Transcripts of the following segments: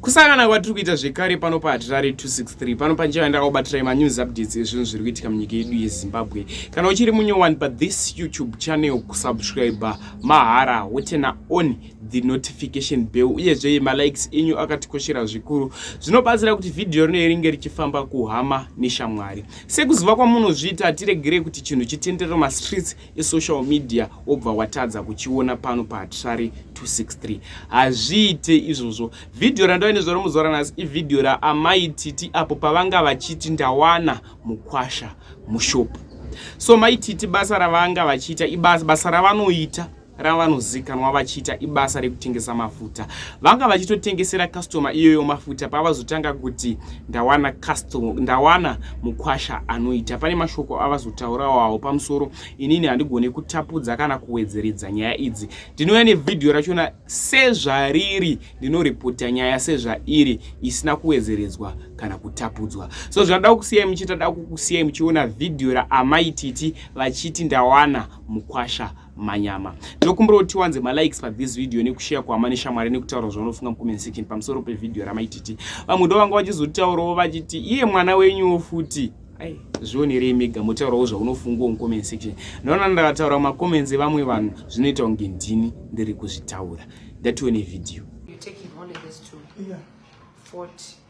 kusangana kwatiri kuita zvekare pano pahatirare 263 pano panjeva ndakaubatirai manews updates ezvinhu zviri kuitika munyika yedu yezimbabwe kana uchiri munyowani pathis youtube channel kusubscribe mahara wotena on the notification bell uyezve malikes enyu akatikoshera zvikuru zvinobatsira kuti vhidhiyo rino ringe richifamba kuhama neshamwari sekuziva kwamunozviita hatiregerei kuti chinhu chitenderero mastreets esocial media wobva watadza kuchiona pano pahatisvari 263 hazviite izvozvo vhidhiyo randava nezvo romuzora nhasi ivhidhiyo raamai titi apo pavanga vachiti ndawana mukwasha mushopu so mai titi basa ravanga vachiita ibasa basa ravanoita ravanozikanwa vachiita ibasa rekutengesa mafuta vanga vachitotengesera kastoma iyoyo mafuta pavazotanga kuti ndawana custom ndawana mukwasha anoita pane mashoko avazotaurawawo pamusoro inini handigone kutapudza kana kuwedzeredza nyaya idzi ndinouya nevhidhiyo rachona sezvariri ndinoripota nyaya sezvairi isina kuwedzeredzwa kana kutapudzwa so zvandada kusiyai muchiita da kukusiyai muchiona vhidhiyo raamaititi vachiti ndawana mukwasha manyama ndokumbira kuti tiwanze malikes pa this video nekushare kuhama neshamwari nekutaura zvaunofunga mucomment section pamusoro pevideo ramaititi vamwe ndo vanga vachizotitaurawo vachiti iye mwana wenyuwo futi ai zvionerei mega motaurawo zvaunofungawo mucomment section ndaona ndakataura macomments evamwe vanhu zvinoita kunge ndini ndiri kuzvitaura ndatione video You're taking only this two. Yeah. 40.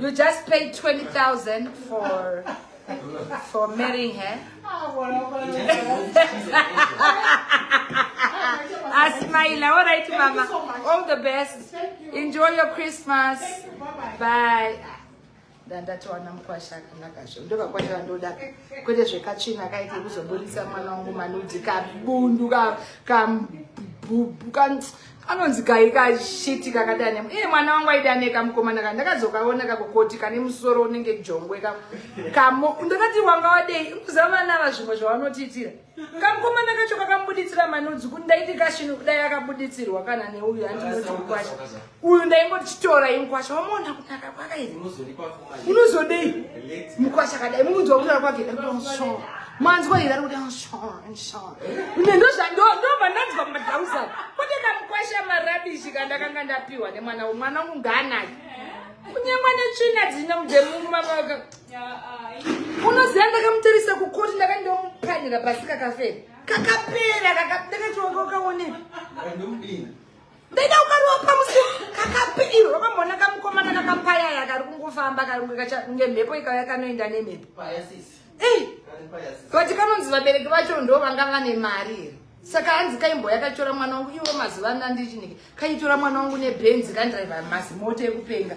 You just paid 20,000 for for marrying her. Asmaila, all right, Mama. All the best. Enjoy your Christmas. Bye. ndandatowana mukwasha akanaka zvo ndovakwasha vandoda kwete zvekachina kaite kuzoburitsa mwana wangu manudzi kabundu kabundu kanonzi kayi kashiti kakadane iye mwana wangu aidane kamukomana ka ndakazokaona kakokoti kane musoro unenge jongwe ka kamo ndakati wanga wadei kuziva vana ava zvimwe zvavanotiitira kamukomana kacho kakambuditsira manudzi kuti ndaiti kashinu kudai akabuditsirwa kana neuyu andinoti mukwasha uyu ndaingotichitora imkwasha wamona kunaka kwakaii unozodei mukwasha kadai mukunzwa kutaura kwake manzwa here ari kuti ine ndozvandoba ndanzwa madhausani kwete ndamukwasha marabishi kandakanga ndapiwa nemwana mwana wangu ngaanaki kunyangwa netsvina dzina mudemumamaka unoziva ndakamutarisa kukoti ndaka ndomupanira pasi kakafera kakapera kakadakatokaonei ndaida kukarova pamusi kakapidirwa mamona kamukomana kakapayaya kari kungofamba karinge mhepo ikauya kanoenda nemhepo vati kanonzi vabereki vacho ndo vanga vane mari here saka hanzi kaimboya katora mwana wangu iwo mazuva ano andichinike kaitora mwana wangu nebhenzi kandriva mazimoto ekupenga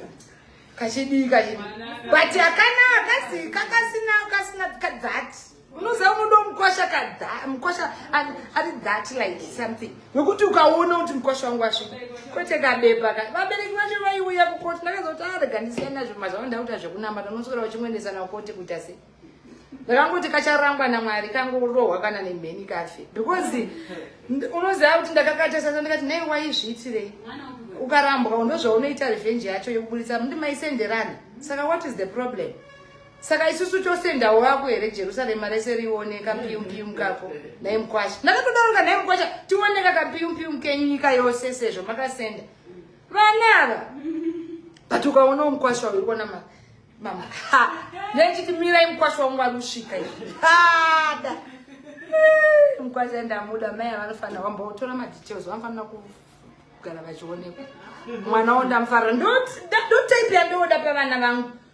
kachidii kachidii but akanaa kasi kakasina kasina that unoziva unoda mukwasha kamukwasha ari that like something nokuti ukaona kuti mukwasha wangu asvika kwete kabepa ka vabereki vacho vaiuya kukoti ndakazoti arega ah, ndisiya nazvo mazvavo ndakuita zvekunamba tanoswera uchimwendesa nakoti kuita sei ndakangoti kacharangwa namwari kangorohwa kana nemheni kafe because unoziva kuti ndakakatasasa ndikati nei waizviitirei ukarambwa ndozvaunoita revenge yacho yekuburitsa mndi maisenderana saka what is the problem saka isusu chose ndawo vako here jerusarema rese rione kapiyumpium kako nhai mukwasha ndakatodaroka nhai mukwasha tioneka kapiyumpium kenyu nyika yose sezvo makasenda vana ava but ukaonawo mukwasha uyu kuona ma mama ha nechiti mirai mukwasha wangu ari kusvika ada mukwasha ndamuda mai avanofanira wambotora madetails vanofanira kugara vachionekwa mwana wo ndamufarira ndotaipi yandowoda pavana vangu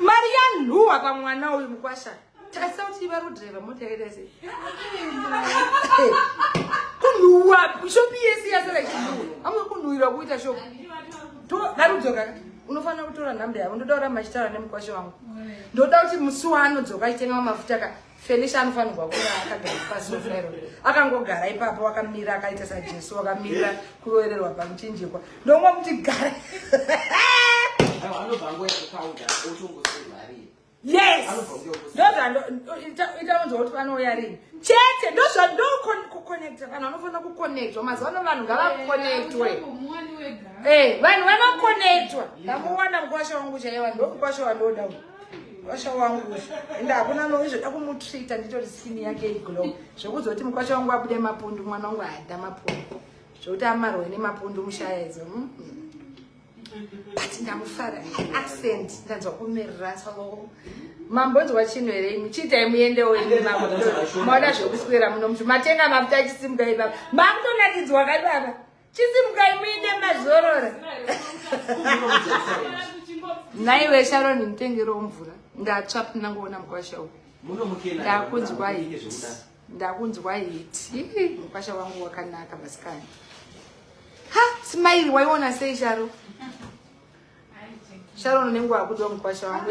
mari yanhuwa pamwana uyu mukwasha tarisa kuti iva rodriva mota yakaita sei kunhuwa shopi yese yasara ichinhuwa amwe kunhuwirwa kuita shopi darudzoka unofanira kutora nhamba yavo ndoda kuramba achitaura nemukwasha wangu ndoda kuti musi waanodzoka achitenga mamafuta ka Felicia anofanirwa kuva akagara pasi wefero akangogara ipapo wakamira akaita sajesu wakamira kuroererwa pamuchinjikwa ndomwa kuti gara yes ndozvandoitaonzwa kuti vanouya rini chete ndozvandokuconnecta vanhu vanofanira kuconnectwa mazuva ano vanhu ngavaconectwe eh, vanhu vanoconectwa ndamuwana mukwasha wangu chaiwa ndomukwasha wandoda uyu mukwasha wangu ende hakuna noizvoda kumutreata nditori skin yake iglow zvekuti zoti mukwasha wangu abude mapundu mwana wangu aada mapundu zvekuti amarwe nemapundu mushaya idzo hmm? but ndamufara accent ndanzwa kumerera salo mambo nzwa chinhu here imi chiitai muyendewo imi mambo maona zvekuswera muno muti matenga mafuta achisimuka ibaba makutonakidzwa kai baba chisimukai muite mazorora naiwe sharon nditengerewo mvura ndatsva pinangoona mukwasha uyu ndakunzwa hiti ndakunzwa hiti mukwasha wangu wakanaka masikana ha simairi waiona sei sharo sharon unenge wakuda mukwasha wangu